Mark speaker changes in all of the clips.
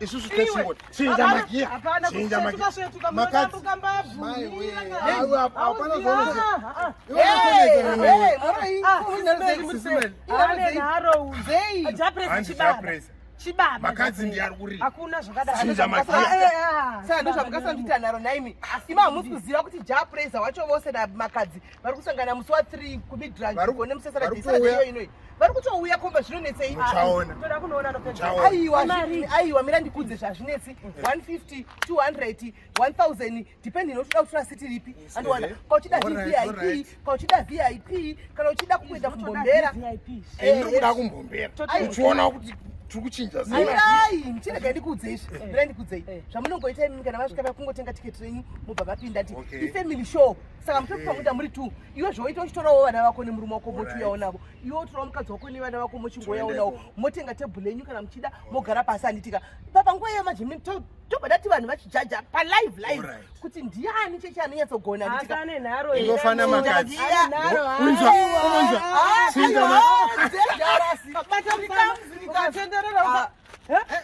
Speaker 1: isusu tesingoti chinja magiya chinja makadzi ndiye ari kurira hakuna
Speaker 2: zvakadaichinja
Speaker 1: magiyasandozvamukasanditanaro
Speaker 3: naimi ima hamusi kuziva kuti japresa wacho vose makadzi vari kusangana musi wa 3 kumidranone musesana deiyo inoi vari kutouya komba zvinonetsei
Speaker 2: aiwa
Speaker 3: mira ndikudze zvazvinetsi 150 200 1000 depend inotoda kutora siti ripi andiwana ka uchida vvip ka uchida vip kana uchida kuenda kumbombera ndikuda
Speaker 1: kumbombera uchiona kuti tiri kuchinja zai
Speaker 3: mchirega ndikuudze izvi mira ndikuudzei zvamunongoita imi kana vasvika vakungotenga tiketi renyu mobva vapinda ti ifamily show saka mutopi pakuita muri two iwe zvoita uchitorawo vana vako nemurume wako mochiuyawo navo iwe utorawo mukadzi wako nevana vako mochingoyawo navo motenga tebhule yenyu kana muchida mogara pasi handitika papa nguva iyo majimi tobva tati vanhu vachijaja palive live kuti ndiani chechi anonyatsogona handitikaofana
Speaker 1: makadzi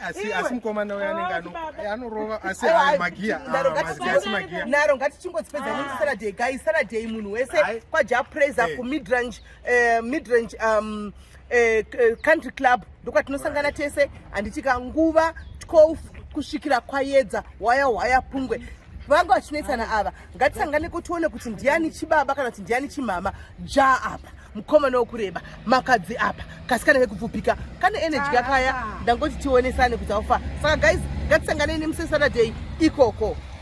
Speaker 1: asi mukomana uyo anenge ah, anorova asi magiya ah,
Speaker 3: naro ngatichingozipedza ah. nesaturday guy saturday munhu wese kwajapraise eh. kumidrange eh, midrange um, eh, country club ndokwatinosangana tese handitika nguva 12 kusvikira kwayedza waya waya pungwe vanga vachinetsana ava ngatisangane kutione kuti ndiani chibaba kana kuti ndiani chimama ja apa mukomana wokureba makadzi apa kasikana kekupfupika kane energy kakaya ndangoti tionesane kuti aufa saka guys ngatisanganei nemusesaturday ikoko